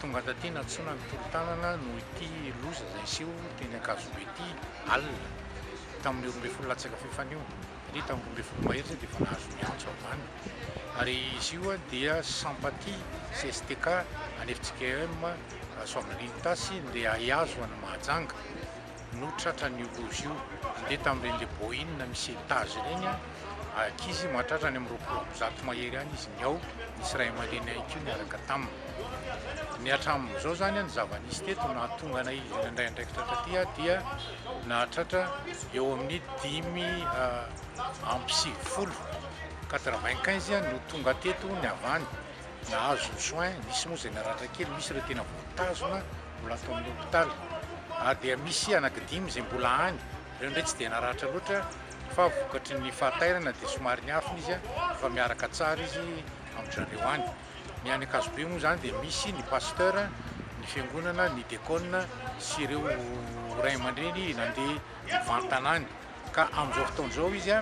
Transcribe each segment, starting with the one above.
Tonga taty nantsoina ny tolo-tanana noho ity loza izay niseho teny Ankazobe ity alina tamin'ny roa ambin'ny folo latsaka fahefana io, satria tamin'ny roa ambin'ny folo mahery izay dia efa nahazo ny antso avy any. Ary izy io dia Sympathie CSTK any FJKM Soavinandriana Itasy, ndeha hihazo an'i Mahajanga. no tratran'io loza io. Nandeha tamin'ireny le Boeing misy étage ireny ankizy mahatratra any amin'ny roapolo amby zato mahery any izy niao, nisy ray aman-dreny ihany koa niaraka taminy. Ny hatramin'izao izany ny zava-nisy teto nahatonga anay nandray andraikitra taty dia nahatratra eo amin'ny dimy amby sivifolo, quatre vingt quinze, no tonga teto ny avy any nahazo ny soins, nisy moa izay naratra kely, misy ireo tena voatazona. mbola ato amin'ny hopitaly ary dia misy anaky dimy izay mbola any, ireo indray tsy dia naratra loatra fa vokatry ny fahatairana dia somary niafina izy fa miaraka tsara izy amin-dry zareo any. Ny any Ankazobe moa izany dia misy ny pasteur, ny fiangonana, ny diakona sy ireo ray aman-dreny nandeha mivantana any. Ka amin'izao fotoana izao izy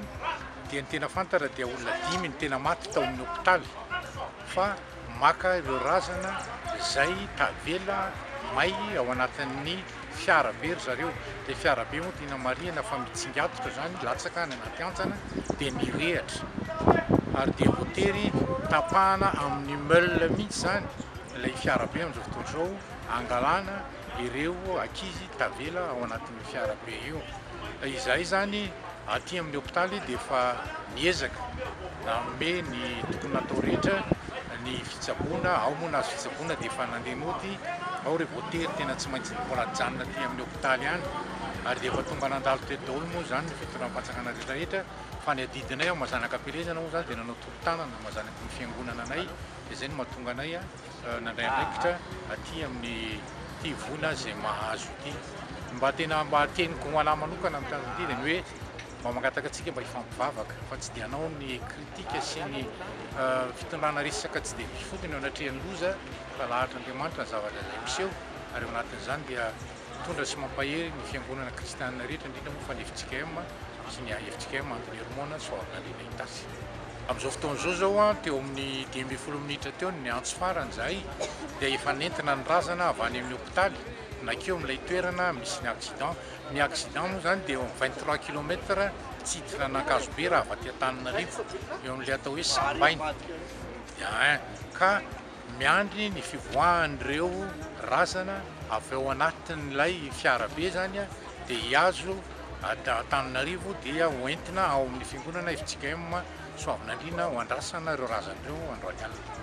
dia ny tena fantatra dia olona dimy no tena maty tao amin'ny hopitaly fa maka ireo razana izay tavela may ao anatin'ny fiarabe ry zareo. Dia fiarabe moa tiana marihina fa mitsingatotra izany, latsaka any anaty hantsana dia mirehatra ary dia voatery tapahana amin'ny meule mihitsy izany ilay fiarabe amin'izao fotoana izao, angalana. ireo ankizy tavela ao anatin'io fiarabe io. Izahay izany aty amin'ny hopitaly dia efa miezaka nanome ny tokony natao rehetra ny fitsaboana, ao moa nahazo fitsaboana dia efa nandeha nody, ao re vao tery tena tsy maintsy mbola nijanona aty amin'ny hopitaly ihany ary dia efa tonga nandalo teto daholo moa izany ny fitondram-panjakana rehetrarehetra fa ny adidinay ao Mazanakapelezana moa izany dia nanao tolo-tanana mazanaky ny fiangonana anay dia izay no mahatonga anay nandray andraikitra aty amin'ny ity voina azy izay mahazo ity. Mba tena mba teniko ho anah manokana amin'ny tanjona ity dia ny hoe mba mangataka antsika mba hifampivavaka fa tsy dia anao ny kritika sy ny eh, fitondrana resaka tsy dia mifotony eo anatrehan'ny loza fa lahatr'Andriamanitra ny zavatra izay miseho ary ao anatin'izany dia mitondra sy mampahery ny fiangonana kristianina rehetra indrindra moa fa ny FJKM sy ny AFJKM Antony Hermona Soavinandriana Itasy. Amin'izao fotoana izao izao, teo amin'ny dimy ambin'ny folo minitra teo no niantso farany izahay dia efa nentina ny razana avy any amin'ny hopitaly nankeo amin'ilay toerana misy ny accident. Ny accident moa izany dia eo amin'ny vingt trois kilomètre tsiditra an'Ankazobe raha avy aty Antananarivo, eo amin'ilay atao hoe Sambaina dia un cas. Miandry ny fivoahan'ireo razana avy ao anatin'ilay fiarabe izany dia hihazo Antananarivo dia ho entina ao amin'ny fiangonana FJKM Soavinandriana ho andrasana ireo razana ireo androany alina.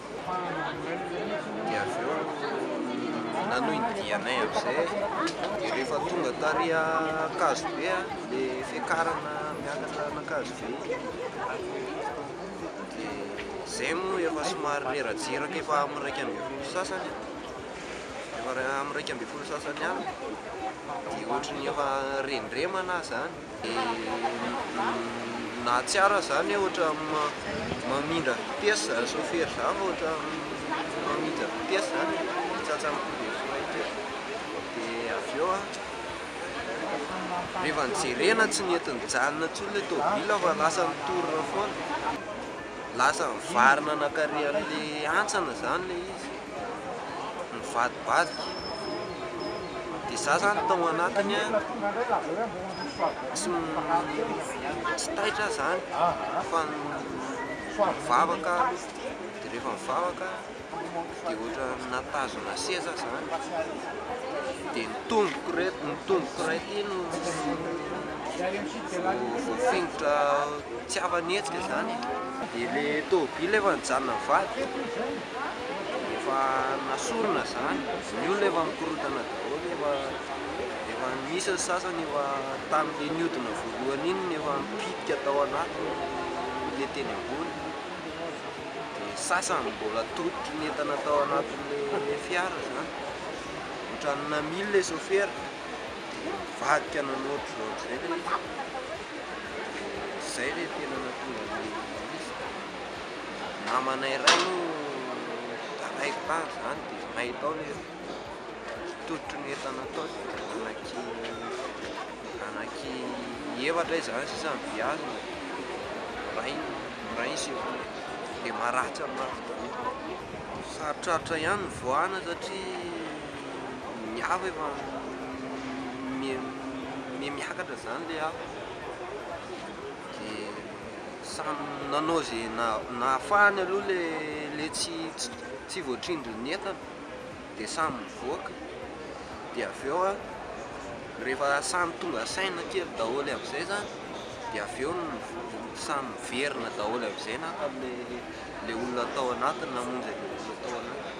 dia avy eo nanohy ny dianay amin'izay dia rehefa tonga tary Ankazobe ilay fiakarana miakatra an'Ankazobe iny dia izay moa efa somary reradreraka efa amin'ny iraika ambin'ny folo sy sasany efa amin'ny iraika ambin'ny folo sy sasany alina dia ohatran'ny efa rendremana aho izany Nahatsiaro ahy zany ohatra mamindra vitesse zany chauffeur zany fa ohatra mamindra vitesse zany de tratra am coup de frein teo de avy eo rehefa nijerena tsy nety nijanona tsony le tôbila fa lasa nitory foana lasa nivarina nankary anle hantsana zany le izy. mivadibadika dia za zany tao anatiny an, tsy taitra zany fa nivavaka aho dia rehefa nivavaka dia ohatran'ny nahatazona seza aho zany dia ny tongoko iray ny tongoko iray ity no voafingotra tsy afa-nihetsika zany e, dia ilay tômôbily efa nijanona nivadika. Efa nasorina izany, ny olona efa mikorotana daholo, efa efa misy ny sasany efa tamin'ilay nihodina voalohany iny no efa mipidika tao anatiny ilay teny ambony, dia ny sasany mbola tototry ny entana tao anatin'ilay fiara izany, ohatran'ny namily ilay sôfera dia nivadika nanao ohatr'izao ohatr'izay ilay izy, dia izay ilay tena nahatonga an'ilay izy. Namana iray no nitaraiko tany izany dia nahita aho ilay tototry ny entana tao dia anaky anaky efatra izany sisa ny vy azony miray miray ny sekoly dia maratsy amin'ny mafy be, sarotrarotra ihany ny nivoahana satria ny afo efa mihemiakatra izany ilay afo dia. Samy nanao ze nahafahany aloha le le tsy tsy voatrindrin'ny entana de samy mivoaka de avy eo an rehefa samy tonga saina kely daholo amizay zany de avy eo samy miverina daholo amizay naka le le olona tao anatiny namonjy anle olona tao anatiny.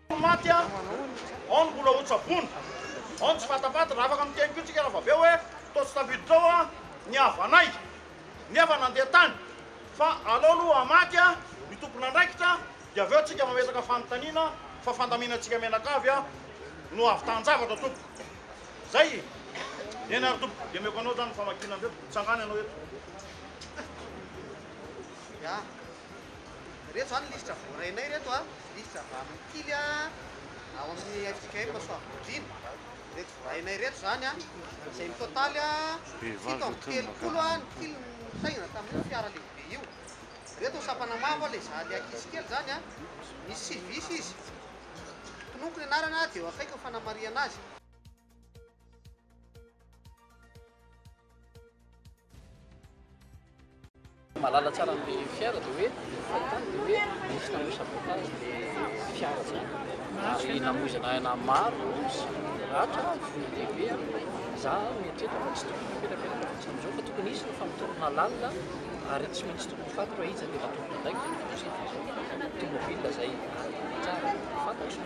Ny maty an! Ao ny mbola hotsaboina, ao ny tsy fatapata. Raha afaka miteny koa tsika rahavavy hoe toa tsy tafiditra ao an ny havanay nefa nandeha tany fa alao aloha hamaty an ny tompon'andraikitra dia avy eo tsika mametraka fanontaniana fa fandaminantsika mianakavy an no havitan-javatra tompoko. Zay e! Eny ary tompoko dia omeko anao zany ny famakiana an'ireto. Tsangano ianao eto. Ireto izany lisitra voarainay ireto a, misy lisitra avy amin'ny tily a, ao amin'ny fjkm Soavigodriana, ireto voarainay ireto izany a, izay mitotaly a, fito amby telopolo a, ny tily no nisainana tamin'io fiara lehibe io. Ireto ny sampana mavo a, ilay za ilay ankizy kely izany a, misy civis izy, tononiko ny anarana a, dia eo akaikiny fanamarihana azy. Mahalala tsara an'ilay fiara dia hoe fahitany dia hoe nisy nanao sabotage ilay fiara izany ary namoizana aina maro sy ratra vono lehibe za mieritreritra fa tsy tokony napetrapetraka mihitsy amin'izao fa tokony hisy ny famotorana lalina ary tsy maintsy tokony faty raha iza dia natomboka andraikitra ny tomobile izay tsara fantatro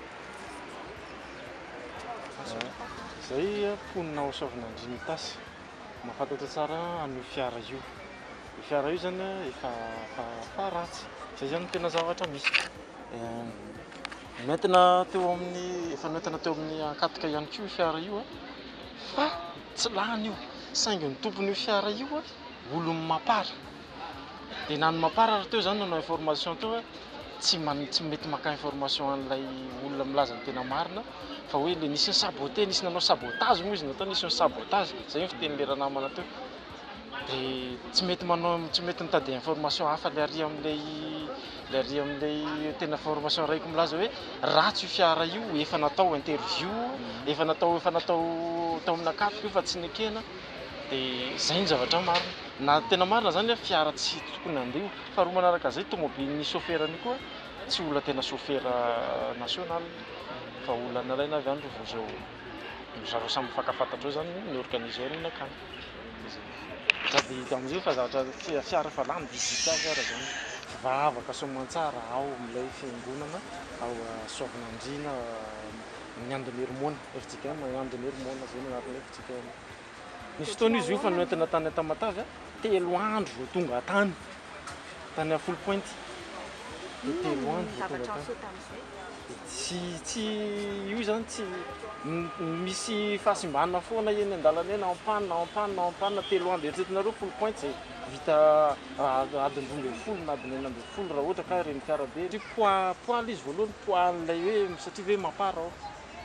Zay mponina ao Soavinandria Mitasy mahafantatra tsara an'io fiara io. Io fiara io zany efa efa ratsy. Zay zany no tena zavatra misy. Noentina teo amin'ny efa noentina teo amin'ny Ankatso ihany koa io fiara io fa tsy lany io saingy ny tompon'io fiara io olon'i Mapar. dia na ny mamparary teo izany nanao information teo fa tsy mety maka information an'ilay olona milaza ny tena marina fa hoe ilay nisy ny sabote, nisy nanao sabotage moa izy natao nisy ny sabotage, izay ny fitenin'ilay ranamana teo dia tsy mety manao, tsy mety mitady information hafa ilay ary amin'ilay ilay ary amin'ilay tena information arahiko milaza hoe ratsy io fiara io, efa natao interview, efa natao, efa natao tao amin'Ankatso io fa tsy nekena. dia izay no zavatra marina. Na tena marina izany hoe fiara tsy tokony handeha io. Faharoa manaraka izay, tomobilin'ny sôfera an'io koa tsy olona tena sôfera national fa olona nalaina avy any ry vouzou. Ry zareo samy mifankafantatra eo izany ny organiseur ny nankany. Dia izay. Sady amin'izay efa zavatra tsy fiara efa lany digital ary izany. Vavaka soamantsara ao amin'ilay fiangonana ao Soavinandriana, ny Andonirimoana, FJKM, Andonirimoana, izay no anaran'ilay FJKM. Tena. Nisy fotoana izy io fa noentina tany Tamatave a, telo andro vao tonga tany, tany à Foul Point. Dia telo andro vao tonga tany. Dia tsy, tsy, io izany tsy, m- misy fahasimbana foana eny an-dalana eny, en panne, en panne, en panne, telo andro. Eritreretinareo Foul Point izay vita ah, adiny roa ambin'ny folo na adiny enina ambin'ny folo raha ohatra ka ireny fiara be ireny. Poids, poids ilay izy voalohany, poids an'ilay hoe satria ve mapar ao,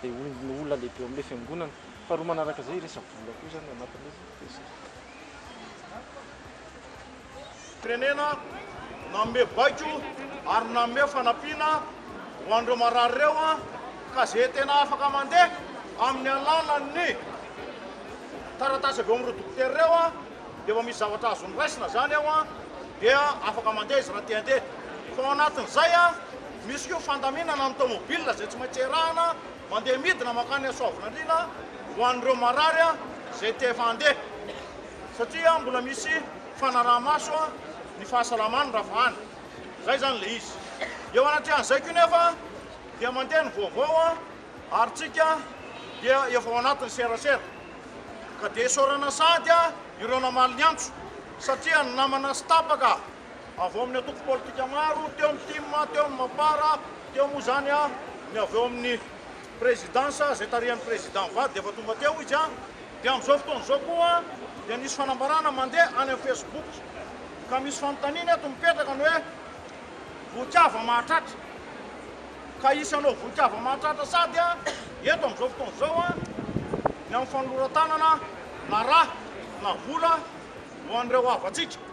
dia olona, olona lehibe ao amin'ilay fiangonana. Faharoa manaraka izay resa-bola koa izany anatiny izy dia. Firenena nanome baiko ary nanome fanampiana ho an'ireo marary ireo ka izay tena afaka mandeha amin'ny alalan'ny taratasy avy ao amin'ireo dokotera ireo dia efa misy zavatra azony raisina izany eo dia afaka mandeha izy raha te handeha fa ao anatin'izay misy koa fandaminana ny tomobile izay tsy maintsy erahana Mandeha midina mankany Soavinandriana ho an'ireo marary izay te efa handeha satria mbola misy fanaraha-maso ny fahasalaman'ny ravahana. Izay izany ilay izy. Eo anatrehan'izay koa nefa dia mandeha ny vaovao ary tsika dia efa ao anatin'ny serasera. Ka dia isaorana sahady ireo namaly ny antso satria ny namana sy tapaka. avy ao amin'ny antoko politika maro, teo amin'ny tim, teo amin'ny Mapar, teo moa izany ny avy ao amin'ny Présidence izay tarihan'ny Président Vady dia efa tonga teo izy, dia amin'izao fotoana izao koa dia nisy fanambarana mandeha any amin'ny Facebook ka misy fanontaniana eto mipetraka ny hoe vohikava mahatratra ka hisy hanao vohikava mahatratra sady eto amin'izao fotoana izao ny amin'ny fanoloran-tanana na rà na vola ho an'ireo havantsika.